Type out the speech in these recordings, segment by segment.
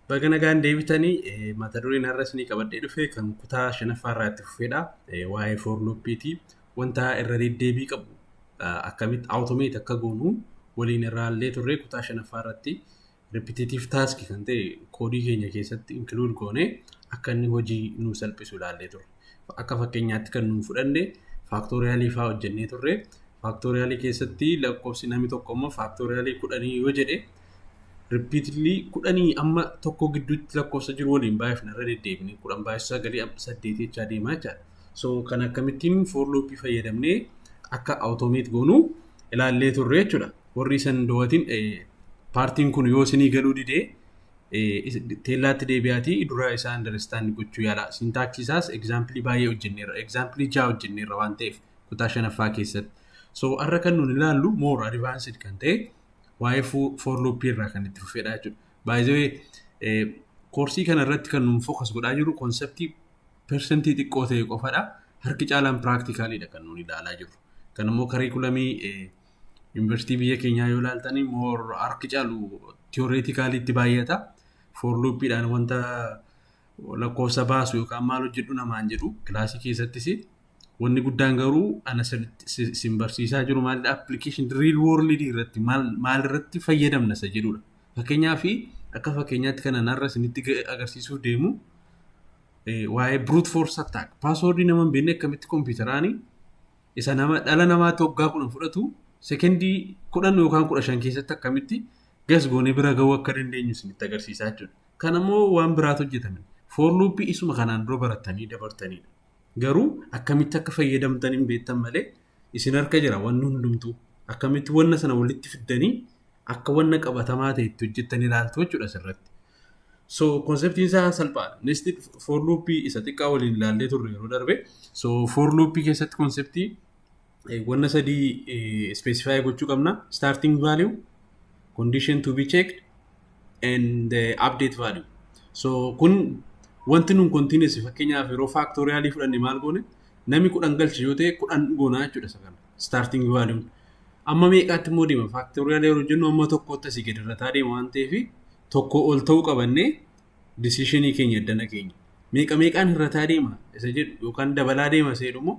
Baga nagaan deebitanii eh, mata dureen har'a isinii qabadhee dhufe kan kutaa shanaffaa irraa itti fufeedha. Eh, Waa'ee for loopiiti. Wanta irra deddeebii qabu ah, akkamitti automate akka goonu waliin irraa illee turre kutaa shanaffaa irratti repetitive task kan ta'e koodii keenya keessatti include goone akka inni hojii nu salphisu ilaallee turre. Akka fakkeenyaatti kan nu fudhanne faaktooriyaalii fa'aa hojjennee turre. Faaktooriyaalii keessatti lakkoofsi namni tokko immoo faaktooriyaalii kudhanii yoo jedhe Repeatedly kudhanii amma tokko gidduutti lakkoofsa jiru waliin baay'ifna irra deddeebine kudhan baay'isaa galii saddeet jechaa deemaa jechaadha. So kan akkamittiin for loop fayyadamnee akka automate goonu ilaallee turre jechuudha. Warri isan doowatiin paartiin kun yoo isinii galuu didee teellaatti deebi'aatii dura isaa understand gochuu yaala. Sintaaksii isaas egzaampilii baay'ee hojjenneerra. Egzaampilii ja'a hojjenneerra waan ta'eef kutaa shanaffaa keessatti. So har'a kan nuun ilaallu more advanced kan ta'e waa'ee for loop irraa kan itti fufedha jechuudha. By the way, koorsii kana irratti kan nuun focus godhaa jiru konseptii persentii xiqqoo ta'e qofadha. Harki caalaan piraaktikaalidha kan nuun ilaalaa jiru. Kan immoo kariikulamii yuunivarsiitii biyya keenyaa yoo ilaaltanii moor harki caalu tiyoreetikaaliitti baay'ata. For loopidhaan wanta lakkoofsa baasu yookaan maal hojjedhu namaan jedhu kilaasii keessattis Wanni guddaan garuu ana isin barsiisaa jiru maalidha? Application real world irratti maal irratti fayyadamna isa jedhudha. Fakkeenyaaf akka fakkeenyaatti kan anarra isinitti agarsiisuuf deemu waa'ee brute force attack. Paaswoordii nama hin beekne akkamitti kompiitaraan isa nama dhala namaa toggaa kudhan fudhatu sekendii kudhan yookaan kudha shan keessatti akkamitti gas goonee bira ga'uu akka dandeenyu isinitti agarsiisaa jechuudha. Kan ammoo waan biraatu hojjetame. Foorluuppii isuma kanaan dura barattanii dabartanidha. Garuu akkamitti akka fayyadamtan hin beektan malee isin harka jira wanni hundumtuu. Akkamitti wanna sana walitti fiddanii akka wanna qabatamaa ta'e itti hojjettan ilaaltu jechuudha asirratti. So konseptiin isaa salphaadha. Nested for loop isa xiqqaa waliin ilaallee turre yeroo darbe. So for loop keessatti konseptii wanna sadii specify gochuu qabna starting value condition to be checked and the update value so kun wanti nun continuous fakkeenyaaf yeroo factorial fudhanne maal goone nami kudhan galche yoo ta'e kudhan goona jechuudha isa kana starting value amma meeqaatti immoo deema factorial yeroo jennu amma tokkootti asii gadi irrataa deema waan ta'eef tokko ol ta'uu qabannee decisionii keenya addana keenya meeqa meeqaan irrataa deema isa jedhu yookaan dabalaa deema isa jedhu immoo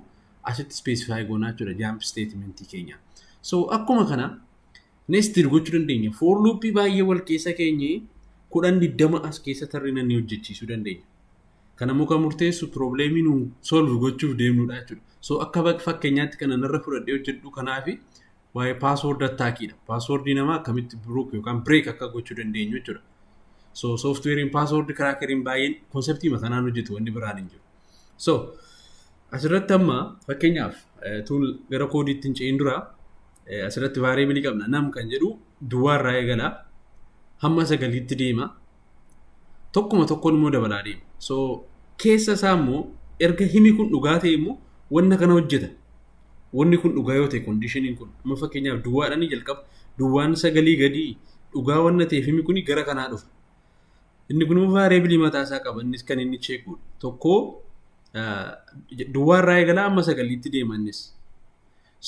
asitti specify goonaa jechuudha jump statement keenya. So akkuma kana nested gochuu dandeenya. For loop baay'ee wal keessa keenye kudhan digdama as keessa tarrina ni hojjechiisuu dandeenya. Kana muka murteessu probleemii nu solve gochuuf deemnudha jechuudha. So akka bak- fakkeenyaatti kana narra fudhadhee hojjedhu kanaafi waa'ee password attackiidha. Password namaa akkamitti brook yookaan break akka gochuu dandeenyu jechuudha. So softwarein password crackeriin baay'een konseptii kanaan hojjetu wanni biraan hin jiru. So, asirratti amma fakkeenyaaf eh, tuun gara koodiitti hin ce'in dura eh, asirratti vaariyeebilii qabna. Nam kan jedhu duwwaa irraa eegala. Hamma sagaliitti deema. Tokkuma tokkoon immoo dabalaa deema. So, keessa isaa immoo erga himi kun dhugaa ta'e immoo wanna kana hojjeta. Wanni kun dhugaa yoo ta'e kondiishiniin kun amma fakkeenyaaf duwwaadhaan ni jalqaba. Duwwaan sagalii gadii dhugaa wanna ta'eef himi kun gara kanaa dhufa. Inni kun immoo variable mataa isaa qaba. Innis kan inni check godhu. Tokko duwwaa irraa eegalaa amma sagaliitti deema innis.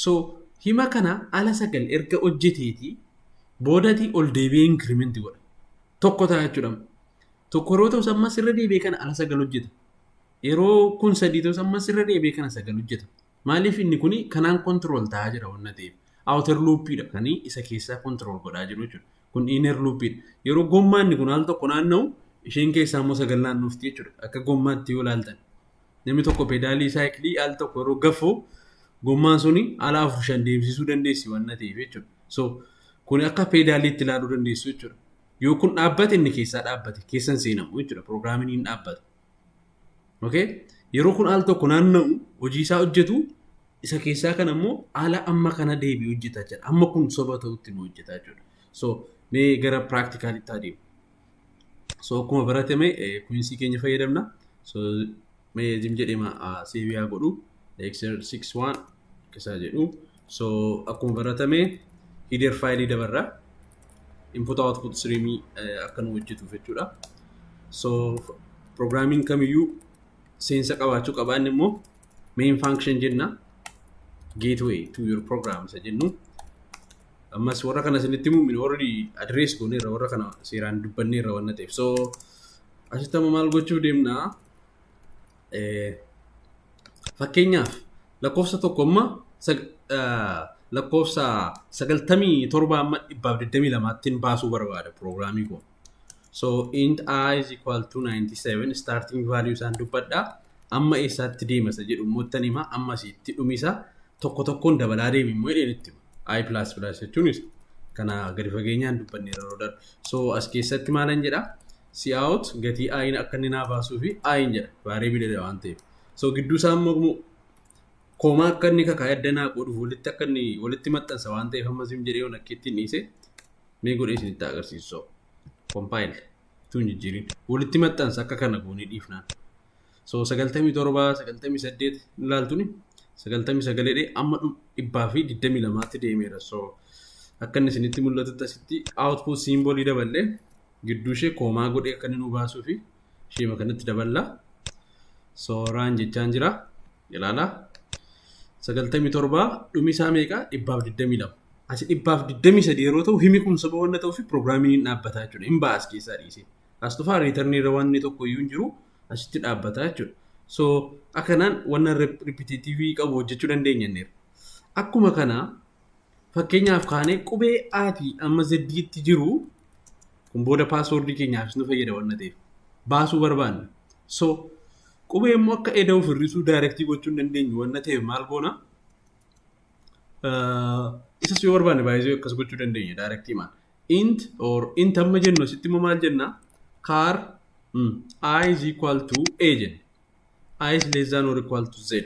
So hima kana ala sagal erga hojjeteeti boodati ol deebi'ee increment godha. Tokko ta'a jechuudha. Tokko yeroo ta'us ammas irra deebi'ee kana ala sagal hojjeta. Yeroo kun sadii ta'us ammas irra deebi'ee kana sagal hojjeta. Maaliif inni kun kanaan control ta'aa jira wanna ta'eef. Outer loop dha kan isa keessaa control godhaa jiru jechuudha. Kun inner loop dha. Yeroo gommaan inni kun al tokko naanna'u isheen keessaa immoo sagal naannofti jechuudha. Akka gommaatti yoo ilaaltan. Namni tokko pedaalii saayikilii al tokko yeroo gafu gommaan suni ala afur shan deemsisuu dandeessi wanna ta'eef jechuudha. So kun akka peedaaliitti ilaaluu dandeessu jechuudha. Yoo kun dhaabbate inni keessaa dhaabbate keessan seenamu jechuudha. Pirogiraamiin hin dhaabbata. Okay? Yeroo kun al tokko naanna'u hojii isaa hojjetu isa keessaa kan ammoo ala amma kana deebi'u hojjeta jechuudha. Amma kun soba ta'utti nu hojjeta jechuudha. So mee gara practicalitti adeemu. So akkuma baratame kuinsii keenya fayyadamna. So mee jim jedhema seebiyaa godhu. Dexter 61 akkasaa jedhu. So akkuma baratame header faayilii dabarra input output stream akka nu hojjetuuf jechuudha. So programming kamiyyuu seensa qabaachuu qaba inni immoo main function jenna gateway to your program isa jennu. Ammas warra kana isinitti himuun already address gooneerra warra kana seeraan dubbanneerra waan ta'eef. So asitti amma maal gochuu deemnaa? Fakkeenyaaf lakkoofsa tokko amma lakkoofsa sagaltamii torba amma dhibbaaf digdamii lamaattiin baasuu barbaada piroogiraamii kun. So int i is equal to 97 starting value isaan dubbadha. Amma eessaatti deemasa jedhu immoo ittan hima amma asitti dhumisa tokko tokkoon dabalaa deemi immoo jedheen itti hima. i plus plus jechuunis kana gadi fageenyaan dubbanne yeroo darbe. So as keessatti maalan jedha cout gatii i'n akka inni naa baasuu fi i'n jedha variableedha waan ta'eef. So gidduu isaa immoo koomaa akka inni kakaa adda naa godhuuf walitti akka inni walitti maxxansa waan ta'eef amma zim jedhee yoon akkiitti hin dhiise mee godhee isinitti agarsiisu so compile tuun jijjiirin walitti maxxansa akka kana goonee dhiifnaan. So 97, 98 ilaaltuni 99 jedhee amma dhum- dhibbaa fi 22tti deemeera. So akka inni isinitti mul'atutti asitti output simbolii daballee gidduu ishee koomaa godhee akka inni nu baasuu fi isheema kanatti daballaa. So raan jechaan jira. Ilaalaa. 97 dhumi isaa meeqa? 122. Asi 123 yeroo ta'u himi kun soba wanna ta'uuf pirogiraamiin hin dhaabbataa jechuudha. Hin ba'a as keessaa dhiisee. as dhufaa riitarnii irra wanni tokko iyyuu hin jiru asitti dhaabbataa jechuudha. So akkanaan wanna ripititiivii qabu hojjechuu dandeenya inni. Akkuma kana fakkeenyaaf kaanee qubee A fi amma Z tti jiru kun booda paaswoordii keenyaafis nu fayyada wanna ta'eef baasuu barbaanna. So qubee immoo akka eda'u firrisuu daayirektii gochuu hin dandeenyu wanna ta'eef maal goona? Isas yoo barbaanne baay'isuu akkas gochuu dandeenya daayirektii maal. int or int amma jennu asitti immoo maal jenna car mm, i is equal to a jenna i is less than or equal to z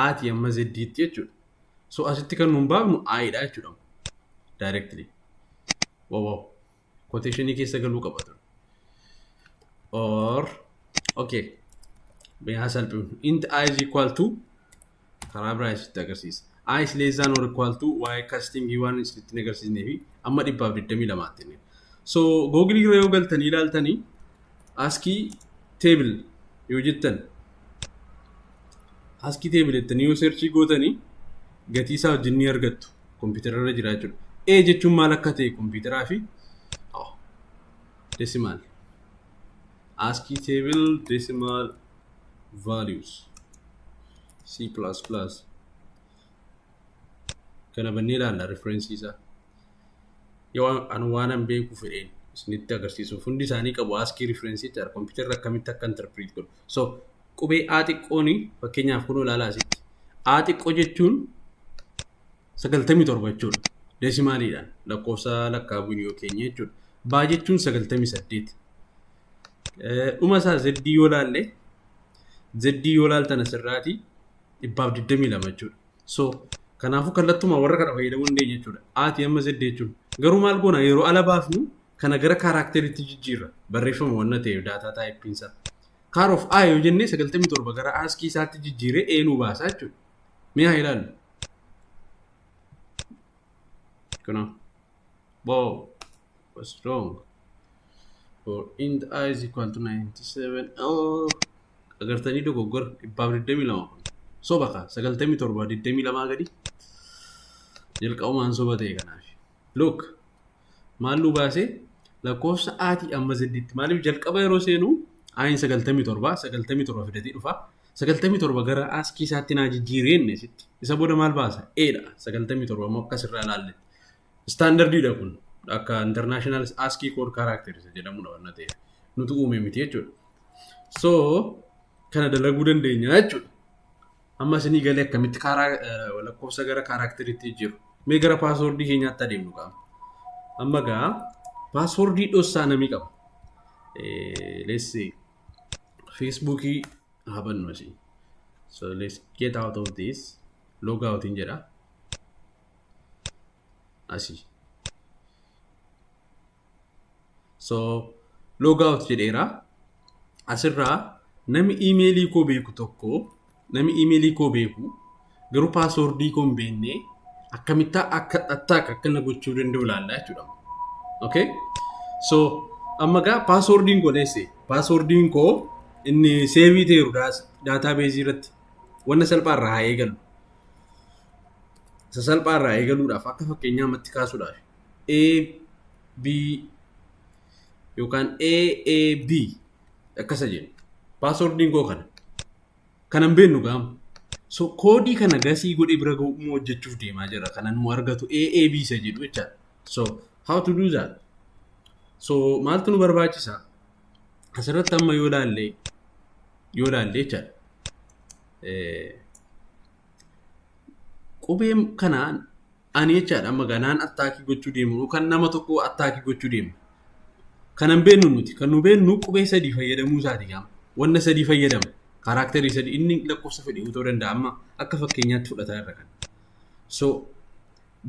ati amma z itti jechuudha so asitti kan nuun baafnu i dha jechuudha directly wow wow quotationii keessa galuu qaba ture or okay mee haa salphifnu int i is equal to karaa biraa isinitti agarsiisa. i is less than or equal to y casting waan isinitti hin agarsiisnee fi amma dhibbaaf 22 tti inni. So Google irra yoo galtanii ilaaltanii askii table yoo jettan askii table jettanii yoo searchii gootanii gatii isaa wajjin ni argattu kompiitara irra jira jechuudha. A jechuun maal akka ta'e kompiitaraa fi oh, decimal askii table decimal values c plus plus kana bannee ilaalla referensii isaa yoo an waanan beeku fedheen isinitti agarsiisuuf hundi isaanii qabu askii referensii jira kompiitarri akkamitti akka interpret godhu so qubee a xiqqoon fakkeenyaaf kun ilaalaa asitti a xiqqoo jechuun sagaltamii torba jechuudha deesimaaliidhaan lakkoofsa lakkaa'uun yoo keenya jechuudha baa jechuun sagaltamii saddeet Dhuma isaa Z yoo laalle Z yoo laaltan asirraati dhibbaaf 22 jechuudha. So kanaafuu kallattuma warra kana fayyadamuu dandeenya jechuudha. Ati amma Z jechuun garuu maal goona yeroo ala baafnu kana gara kaaraakteriitti jijjiirra barreeffama wanna ta'eef daataa taayippiin isaa. Kaar of A yoo jennee 97 gara aaskii isaatti jijjiiree A nuu baasaa jechuudha. Mee haa ilaallu. Kunoo. Wow. What's wrong? for int i is equal to 97 oh agartanii dogoggora dhibbaaf 22 kun soba kaa 97 22 gadi jalqabumaan soba ta'e kanaaf look maal nu baasee lakkoofsa aatii amma zeddiitti maaliif jalqaba yeroo seenuu aayin 97 97 fidatee dhufa 97 gara aaskii isaatti naa jijjiiree inni sitti isa booda maal baasa eedha 97 ammoo akkas irraa ilaalletti Istaandardiidha kun akka international ASCII code characters jedhamudha wanna ta'e nutu uume miti jechuudha. So kana dalaguu dandeenya jechuudha. Amma isinii galee akkamitti karaa eh, lakkoofsa gara kaaraakteriitti jiru. Mee gara paaswoordii keenyaatti adeemnu qaama. Amma gaa paaswoordii dhossaa namii qaba. Eh, Let's see. Feesbuukii haa bannu asii. So let's get out of this. Log out hin jedha. I see. So, log out jedheera. Asirraa nami iimeelii koo beeku tokko, nami iimeelii koo beeku garuu paaswoordii koo hin beekne akkamittaa akka attack akka na gochuu danda'u ilaalla jechuudha. Okay? So, amma gaa paaswoordiin koo neesse. Paaswoordiin koo inni seevii ta'eeru daataabeezii irratti. Wanna salphaa irraa haa eegalu. Isa salphaa irraa eegaluudhaaf akka fakkeenyaa matti kaasuudhaaf A, B yookaan A, A, B akkasa jennu. Paaswordiin koo kana. Kanan beennu gaama. So koodii kana gasii godhee bira ga'u immoo hojjechuuf deemaa jira. Kanan immoo argatu A, A, B isa jedhu jechaadha. So how to do that? So maaltu nu barbaachisa? Asirratti amma yoo ilaalle yoo ilaalle jechaadha. Qubee kanaan ani jechaadha amma ganaan attaakii gochuu deemu yookaan nama tokko attaakii gochuu deemu. Kanan beennu nuti kan nu beennu qubee sadii fayyadamuu isaati gaama. Wanna sadii fayyadama. Kaaraakterii sadii inni lakkoofsa fedhe ta'uu danda'a amma akka fakkeenyaatti fudhataa irra kan. So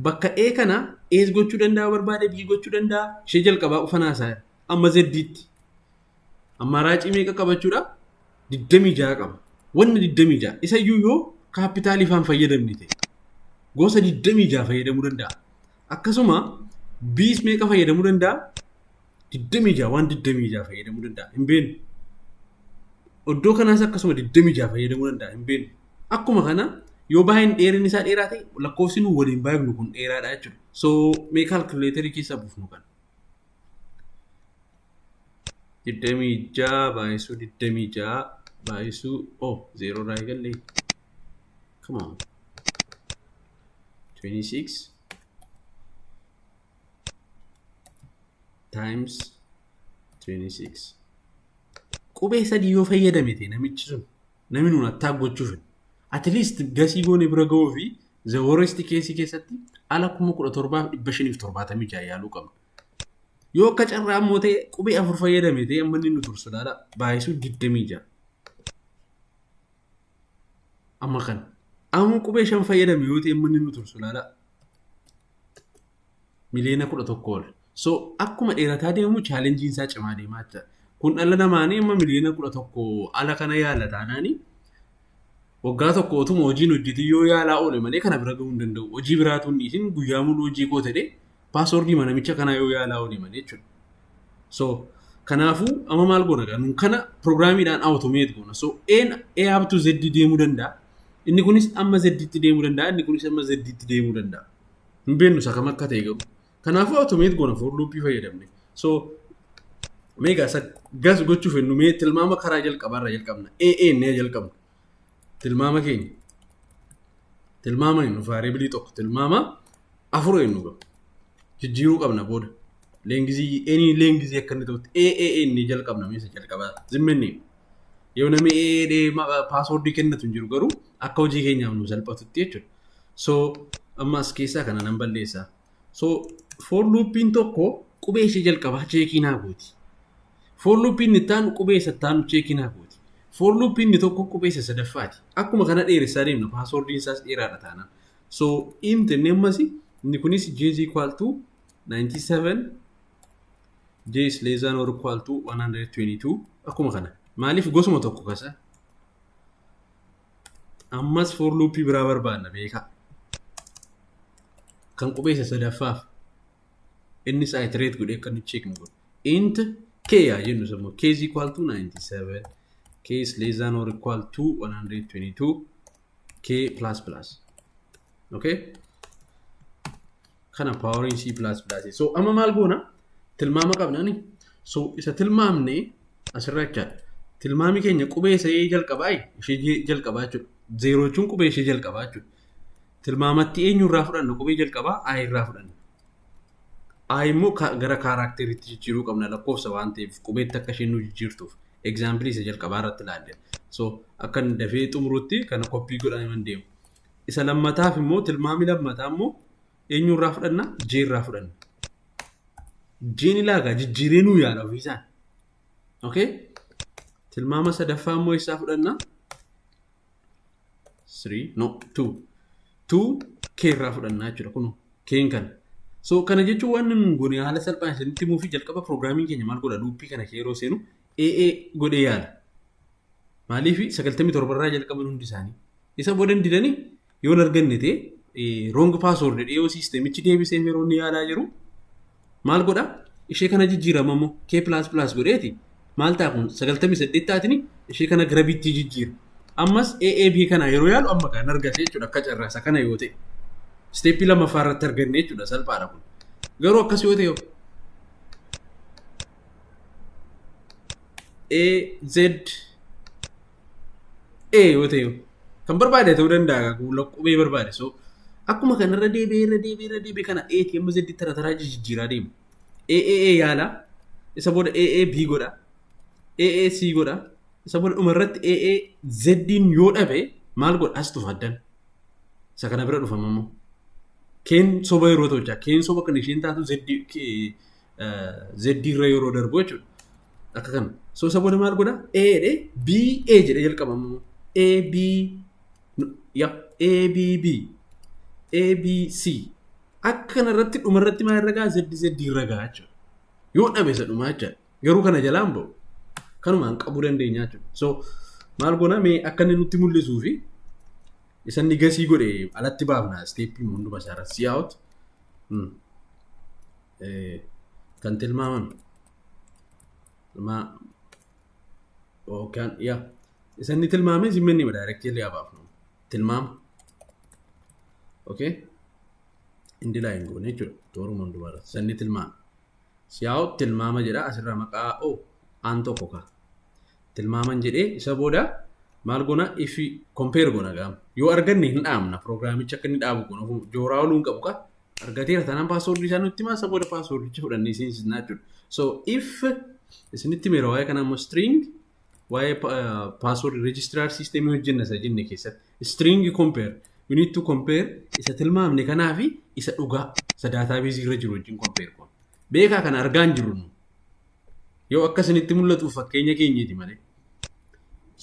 bakka A kana A's gochuu danda'a barbaade B gochuu danda'a ishee jalqabaa ufanaa isaa amma zeddiitti. Ammaaraacii meeqa qabachuudha? 26 qaba. Wanna 26 isa iyyuu yoo kaappitaalii faan fayyadamni ta'e gosa 26 fayyadamuu danda'a. Akkasuma biis meeqa fayyadamuu danda'a? 26 waan 26 fayyadamuu danda'a. Hin beeknu. Oddoo kanaas akkasuma 26 fayyadamuu danda'a. Hin beeknu. Akkuma kana yoo baay'een dheerinni isaa dheeraa ta'e lakkoofsi nu waliin baay'ifnu kun dheeraadha jechuudha. So mee kaalkuleetarii keessaa buufnu kana. digdamii ja'a baay'isuu digdamii ja'a baay'isuu oh zeeroo irraa eegalle come on 26 times 26 qubee sadii yoo fayyadame ta'e namichi sun namni nuun attaa gochuuf at least gasii goone bira ga'uu fi The worst case keessatti ala kuma kudha torbaaf dhibba shaniif torbaatamii ja'a yaaluu qabna. Yoo akka carraa immoo ta'e qubee afur fayyadame ta'e amma inni nu tursu laala baay'isuu digdamii ja'a. Amma kana. Amma qubee shan fayyadame yoo ta'e amma inni nu tursu laala Miliyoona kudha tokko ol. So akkuma dheerataa deemu chaalenjiin isaa cimaa deemaa jira. Kun dhala namaanii amma miliyoona kudha tokko ala kana yaala taanaani waggaa tokko otuma hojiin hojjetii yoo yaalaa oole malee kana bira gahuu hin danda'u. Hojii biraatu hin dhiisin guyyaa muluu hojii koo ta'e paaswordii manamicha kanaa yoo yaalaa oole malee jechuudha. So kanaafuu amma maal goona gaa nun kana pirogiraamiidhaan awutomeet goona. So een A up to Z deemuu danda'a. Inni kunis amma Z tti deemuu danda'a. Inni kunis amma Z tti deemuu danda'a. Hin beeknu isa kam akka ta'e garuu. Kanaafuu automate goona for loopii fayyadamne. So meegaa isa gas gochuuf hin dhumee tilmaama karaa jalqabaa irraa jalqabna. AA inni jalqabna. Tilmaama keenya. Tilmaama hin dhufa variabilii tokko tilmaama afur hin dhufa. Jijjiiruu qabna booda. Leengizii eenyu leengizii akka inni ta'utti AA inni jalqabna meesha jalqabaa zimmenni. Yoo namni AA maqaa paaswoordii kennatu hin jiru garuu akka hojii keenyaaf nu salphatutti jechuudha. So amma as keessaa kana nan balleessa. So for loopiin tokko qubee ishee jalqabaa cheekii naa gooti. For loopiin itti aanu qubee isa itti aanu cheekii naa gooti. For loopiin inni tokko qubee isa sadaffaati. Akkuma kana dheeressaa deemna paaswoordiin isaas dheeraadha taanaan. So int inni ammas inni kunis j is equal to 97 j is less than or equal to 122 akkuma kana. Maaliif gosuma tokko kasa ammas for loopii biraa barbaanna beekaa kan qubeessa sadaffaaf innis iterate godhe akka nu cheeknu godhe int k yaa jennu sammoo k is equal to 97 k is less than or equal to 122 k plus plus okay kana paawariin C++ so amma maal goona tilmaama qabnani so isa tilmaamne asirra jechaa tilmaami keenya qubee isa ee jalqabaa ishee J jalqabaa jechuudha zeeroo jechuun qubee ishee jalqabaa jechuudha tilmaamatti eenyu irraa fudhanna qubee jalqabaa A irraa fudhanna A immoo ka- gara kaaraakteriitti jijjiiruu qabna lakkoofsa waan ta'eef qubeetti akka isheen nu jijjiirtuuf egzaampilii isa jalqabaa irratti ilaalle so akka inni dafee xumurutti kana koppii godhanii waan deemu Isa lammataaf immoo tilmaami lammataa immoo eenyu irraa fudhanna? J irraa fudhanna. Jn ilaagaa jijjiiree nuu yaala ofiisaan. Okay? Tilmaama sadaffaa immoo eessaa fudhanna? 3 no 2 2 k irraa fudhannaa jechuudha kun keen kana so kana jechuun waan nun goone haala salphaan isinitti himuu fi jalqaba piroograamiin keenya maal godha luuppii kana kee yeroo seenu AA godhee yaala. Maaliif 97 irraa jalqaban hundi isaanii. Isa booda hin didanii yoo hin arganne ta'e roong paaswoord jedhee yoo siistemichi deebisee yeroo inni yaalaa jiru maal godha ishee kana jijjiirama immoo kee pilaas pilaas godheeti maal ta'a kun 98 taatini ishee kana gara bittii jijjiira. Ammas AAB kana yeroo yaalu amma kan argate jechuudha akka carraasa kana yoo ta'e. Isteeppii lammaffaa irratti arganne jechuudha salphaadha kun. Garuu akkas yoo ta'e A Z A yoo ta'e kan barbaade ta'uu danda'a qubee barbaade so akkuma kana irra deebi'ee irra deebi'ee irra deebi'ee kana A T M Z tara taraa jijjiiraa deema A A A yaala isa booda A A B godha A A C godha isa booda dhuma irratti A A Z yoo dhabe maal godha as tufa addan isa kana bira dhufama immoo keen soba yeroo ta'u jaa keen soba kan isheen taatu Z Z irra yeroo darbu jechuudha. Akka kana. So isa booda maal godha? A jedhee B A jedhee jalqaba immoo A B ya A B B A B C akka kana irratti dhuma irratti maal irra ga'a? Z Z irra ga'a jechuudha. Yoo dhabe isa dhumaa jechuudha. Garuu kana jalaan ba'u. Kanumaan qabuu dandeenya jechuudha. So maal goona mee akka inni nutti mul'isuu fi isa inni gasii godhe alatti baafna isteeppii hunduma isaarra si'aawut. kan tilmaaman yookaan yaa isa inni tilmaame isin minni ma daayirektiirri haa baafnu tilmaama okay indi laayin goone jechuudha tooruma hundumaarra isa inni tilmaame siyaa'u tilmaama jedha asirraa maqaa o aan tokko kaa tilmaaman jedhee isa booda maal goona if kompeer goona gaama yoo arganne hin dhaabna piroogiraamicha akka inni dhaabu goona jooraa oluu hin qabu kaa argateera taanaan password isaa nutti himaa isa booda passwordicha fudhannee isin isinaa jechuudha. So if isinitti meera waa'ee kana immoo string waa'ee password registrar system hojjenna isa jenne keessatti string compare we need to compare isa tilmaamne kanaa fi isa dhugaa isa database irra jiru wajjin compare goona. Beekaa kana argaa hin jirru nu. Yoo akka isinitti mul'atuuf fakkeenya keenyati malee.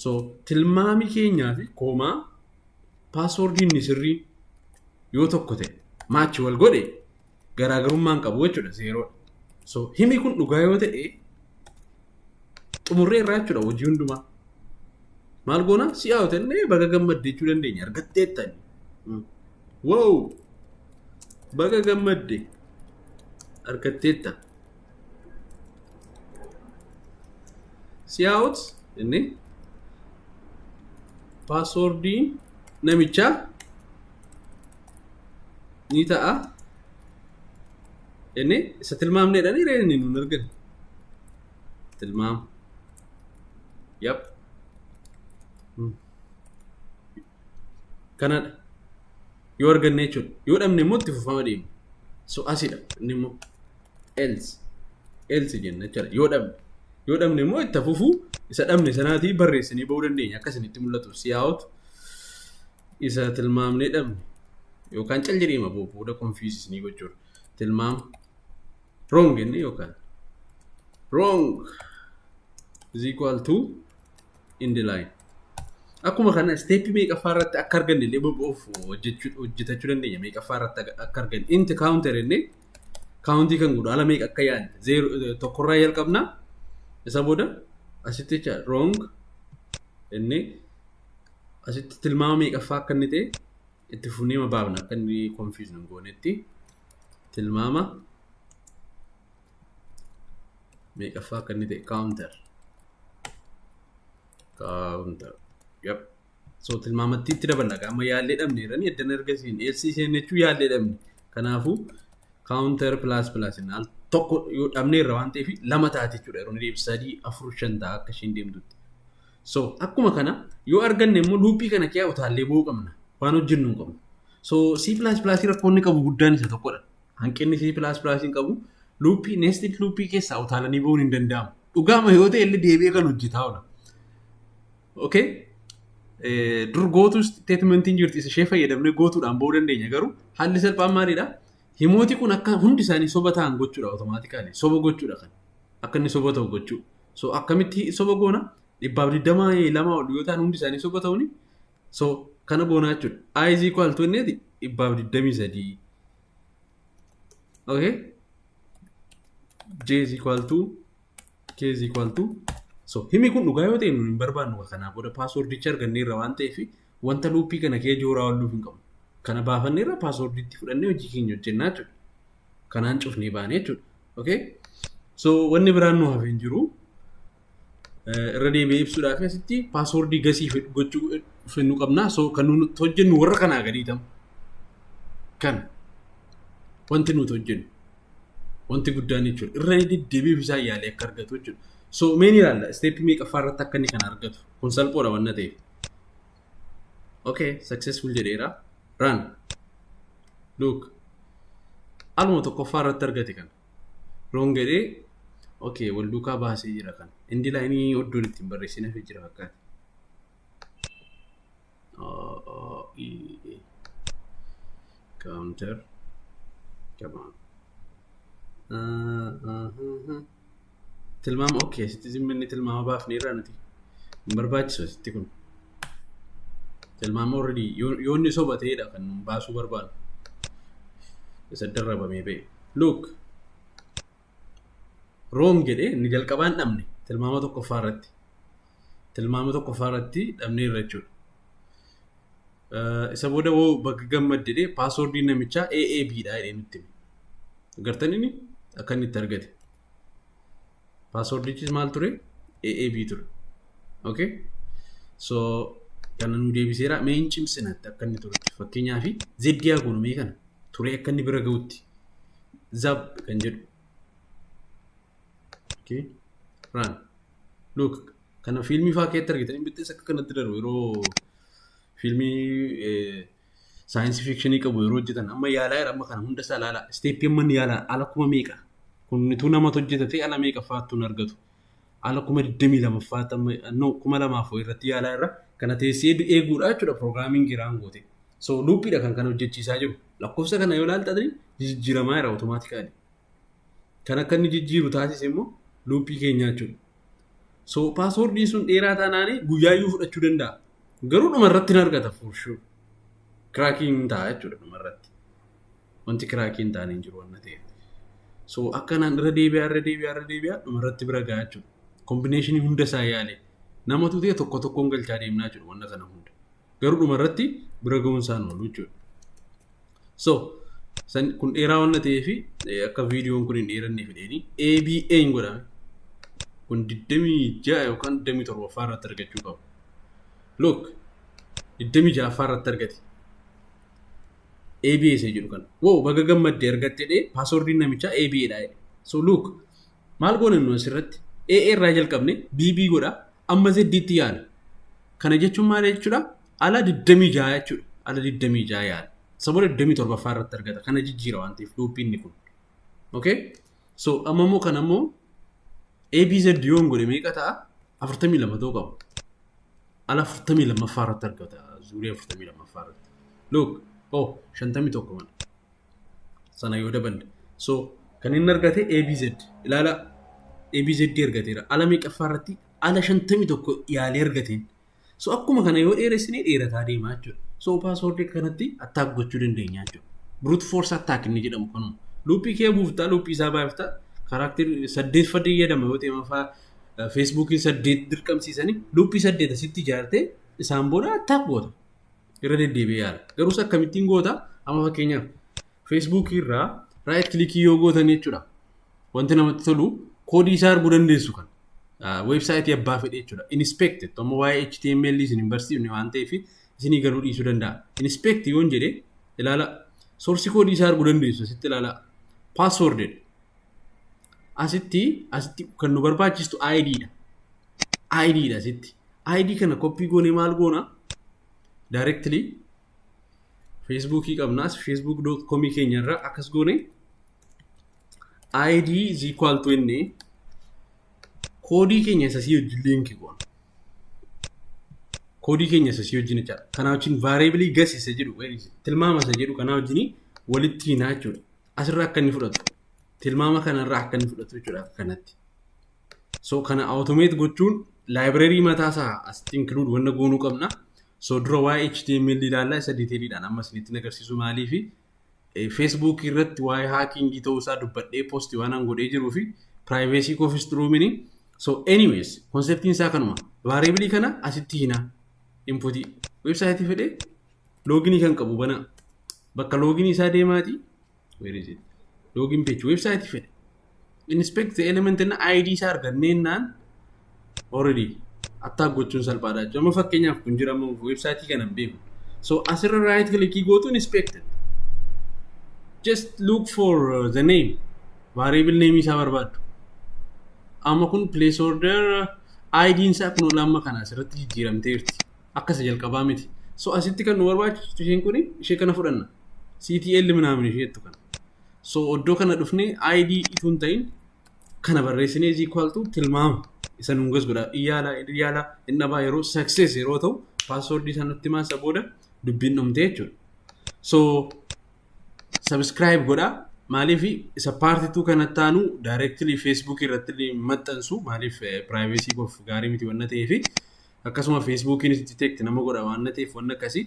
So tilmaami keenyaa fi koomaa paaswoordiin ni sirrii yoo tokko ta'e maachi wal godhe garaagarummaan qabu jechuudha zeeroodha. So himi kun dhugaa yoo ta'e xumurree irraa jechuudha hojii hundumaa. Maal goona si'aa yoo ta'e baga gammadde jechuu dandeenya argatteettan. Wow! Baga gammadde argatteetta. siyaa'ut inni paaswoordiin namichaa ni ta'a inni isa tilmaamneedhaan hiree inni nuun argine tilmaam yap kanadha yoo arganne jechuudha yoo dhabne immoo itti fufama deema so asidha inni immoo else else jenna jechuudha yoo dhabne yoo dhabne immoo itti fufuu isa dhabne sanaatii barreessinee ba'uu dandeenya akka isinitti mul'atu siyaa'utu isa tilmaamnee dhabne yookaan cal jedheema boo- booda konfiisisnii gochuudha tilmaam wrong jenne yookaan wrong is equal to in the line akkuma kana isteeppii meeqaffaa irratti akka arganne illee boba'uuf hojjechuu- hojjetachuu dandeenya meeqaffaa irratti akka arganne inti kaawunter jennee kaawuntii kan godhu ala meeqa akka yaadne zeero tokkorraa jalqabna isa booda asitti jecha wrong inni asitti tilmaama meeqaffaa akka inni ta'e itti fufnee baafna akka inni confuse nu hin goonetti tilmaama meeqaffaa akka inni ta'e counter counter yep So tilmaamattii itti daballa gaa amma yaallee dhabne jedhanii eddan erga siin eessii isheen jechuu yaallee dhabne. Kanaafuu kaawuntar pilaas pilaas inni al tokko yoo dhabne irra waan ta'eef lama taate jechuudha yeroo inni deebi sadii afur shan ta'a akka isheen deemtutti. So akkuma kana yoo arganne immoo luuppii kana kiyaa utaallee ba'uu qabna waan hojjennu hin qabnu. So C pilaas pilaasii rakkoonni qabu guddaan isa tokkodha. Hanqinni C pilaas pilaasiin qabu luuppii neestit luuppii keessaa utaalanii ba'uun hin danda'amu. Dhugaama yoo ta'e illee deebi'ee kan hojjetaa oola. Okay. Eh, Dur gootuu statementiin jirti isa ishee fayyadamnee gootuudhaan ba'uu dandeenya garuu haalli salphaan maalidha? Himooti kun akka hundi isaanii soba ta'an gochuudha otomaatikaali. Soba gochuudha kan. Akka inni soba ta'u gochuu. So akkamitti soba goona? Dhibbaaf digdama lama ol yoo ta'an hundi isaanii soba ta'uuni. So kana goonaa jechuudha. I is equal to inni dhibbaaf digdamii sadii. Okay. J is equal to k is equal to so himi kun dhugaa yoo ta'e nuun hin barbaannu ka kanaa booda paaswordicha argannee irra waan ta'eef wanta luuppii kana kee jooraa oolluuf hin qabu kana baafannee irra paaswordiitti fudhannee hojii keenya hojjennaa jechuudha kanaan cufnee baanee jechuudha okay so wanni biraan nu hafe hin jiru Eh, irra deebi'ee ibsuudhaaf asitti paaswordii gasii fed- gochuu eh, fennu qabna so kan nuti hojjennu warra kanaa gadii ta'u kan wanti nuti hojjennu Wanti guddaan jechuudha. Irra deddeebiif isaa yaalee akka argatu jechuudha. So meen ilaalla isteeppii meeqaffaa irratti akka inni kana argatu. Kun salphoodha wanna ta'eef. Okay, successful jedheera. Run. Look. Aluma tokkoffaa irratti argate kana. Roon jedhee okay wal duukaa baasee jira kana. Indi laayinii oddoon ittiin barreessinaaf jira fakkaata. AAE counter come on uh, uh, uh, uh. tilmaama ok sitti zimminni tilmaama baafne irraa nuti hin barbaachisu sitti kun tilmaama already yoo- yoo inni soba ta'edha kan nun baasuu barbaadu isa darrabamee ba'e look Wrong jedhe inni jalqabaan dhabne tilmaama tokkoffaa irratti. Tilmaama tokkoffaa irratti dhabne irra jechuudha. Isa booda woo bakka gammad jedhe paaswoordiin namichaa AAB dha jedhee nutti hime. Gartan inni akka inni itti argate. Paaswoordichis maal ture? AAB ture. Okay? So kana nu deebiseera mee hin cimsina akka inni turutti fakkeenyaaf zeddiyaa goonu mee kana. turee akka inni bira ga'utti zab kan jedhu okay. run look kana fiilmii faa keetti argitan hin bittees akka kanatti darbu yeroo fiilmii saayinsii fiikshinii qabu yeroo hojjetan amma yaalaa jira amma kana hunda isaa ilaalaa isteeppii amma inni yaalaa ala kuma meeqa kunnituu namatu hojjeta ta'e ala meeqa faattu hin argatu ala kuma digdamii lama faatti amma no kuma lamaaf irratti yaalaa irra kana teessee eeguudha jechuudha piroograamiin giraan gootee. So luuppiidha kan kana hojjechiisaa jiru. Lakkoofsa kana yoo ilaalta ta'e jijjiiramaa jira otomaatikaali. Kan akka inni jijjiiru taasise immoo luuppii keenyaa jechuudha. So paaswoordiin sun dheeraa taanaan guyyaayyuu fudhachuu danda'a. Garuu dhuma irratti hin argata for sure. Kiraakiin hin ta'a jechuudha dhuma irratti. Wanti kiraakiin hin taane hin jiru wanna ta'eef. So akkanaan irra deebi'aa irra deebi'aa irra deebi'aa dhuma irratti bira gahaa jechuudha. Kombineeshinii hunda isaa yaale. Namatu ta'e tokko tokkoon galchaa deemnaa jiru wanna kana hunda. Garuu dhuma irratti bira ga'uun isaan oolu jechuudha. So, san kun dheeraa waan ta'eef akka viidiyoon kun hin dheeranne fedheeni ABA hin godhame. Kun 26 yookaan 27 ffaa irratti argachuu qabu. Look, 26 ffaa irratti argate. ABA isa jedhu kana. Wow, baga gammadde argatte dhee paaswordiin namichaa ABA dha. So look, Maal goona nu asirratti? A irraa jalqabne BB godha amma Z tti yaala. Kana jechuun maal jechuudha? Ala 26 jechuudha. Ala 26 yaala. Sabola 27ffaa irratti argata. Kana jijjiira waan ta'eef luuppiin kun. Okay? So amma immoo kana immoo ABZ yoon godhe meeqa ta'a? 42 ta'uu qaba. Ala 42ffaa irratti argata. Zuurii 42ffaa irratti. Look, oh 51 mana. sana yoo daballe so kan inni argate abz ilaala abz argateera ala meeqaffaa irratti ala shantamii tokko yaalee argateen so akkuma kana yoo dheeressine dheerataa deemaa jechuudha so paaswoordii kanatti attaak gochuu dandeenya jechuudha brute force attack inni jedhamu kanuma luuppii kee buuftaa luuppii isaa baay'iftaa karaakterii saddeet fadii jedhama yoo ta'e mafaa feesbuukiin saddeet dirqamsiisanii luuppii saddeet asitti ijaartee isaan booda attaak goota irra deddeebi'ee yaala. Garuu isa akkamittiin goota? Amma fakkeenyaaf feesbuukii irraa raayit kilikii yoo gootan jechuudha. Wanti namatti tolu koodii isaa arguu dandeessu kan weebsaayitii abbaa fedhe jechuudha. Inspekti amma waa'ee HTML isin hin barsiifne waan ta'eef isinii galuu dhiisuu danda'a. Inspekti yoon jedhe ilaala soorsii koodii isaa arguu dandeessu asitti ilaala paaswoordidha. Asitti asitti kan nu barbaachistu ID dha. ID dha asitti. ID kana koppii goonee maal goona? Directly Facebookii qabnaas facebook.com keenya irraa akkas goone ID is equal to inni koodii keenya isa sii wajjin liinki goona. Koodii keenya isa sii wajjin jechaadha. Kanaa wajjin variably gas isa jedhu tilmaama isa jedhu kanaa wajjin walitti hinaa jechuudha. Asirraa akka inni fudhatu tilmaama kanarraa akka inni fudhatu jechuudha kanatti. So kana automate gochuun library mataa isaa as include wanna goonuu qabna. So dura waa'ee HTML ilaallaa isa detailidhaan amma isinitti agarsiisu maalii fi Facebook irratti waa'ee hacking ta'uu isaa dubbadhee post waan an godhee jiruu fi privacy koofis xuruumini. So anyways conceptiin isaa kanuma variable kana asitti hina input website fedhe login kan qabu bana bakka login isaa deemaati Where is it? Login page website fedhe. Inspect the element na ID isaa argannee naan already attaa gochuun salphaadha jechuudha. Amma fakkeenyaaf kun jira amma website kana hin beeku. So asirra right click gootu inspected. Just look for uh, the name. Variable name isaa barbaaddu. Amma kun place order uh, ID isaa kun olaanma kana asirratti jijjiiramteerti. Akka isa jalqabaa miti. So asitti kan nu barbaachisu isheen kun ishee kana fudhanna. CTL minaamin ishee jettu kana. So oddoo kana dhufnee ID ituu hin ta'in kana barreessinee is equal to tilmaama isa nuun gas godha. Iyyaalaa iyyaalaa hin dhabaa yeroo success yeroo ta'u paaswoordii isaa nutti himaa isa booda dubbiin dhumte jechuudha. So subscribe godhaa. Maaliif isa paartii tuu kana taanu directly Facebook irratti maxxansu maaliif privacy koof gaarii miti wanna ta'eefi. akkasuma feesbuukiinis detect nama godha waan na ta'eef wanna akkasii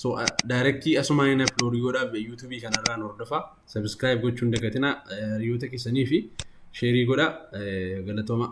so daayirektii asumaan hin upload godhaaf yuutuubii kanarraan hordofaa subscribe gochuun dagatinaa hiriyoota keessanii fi sheerii godha galatoomaa.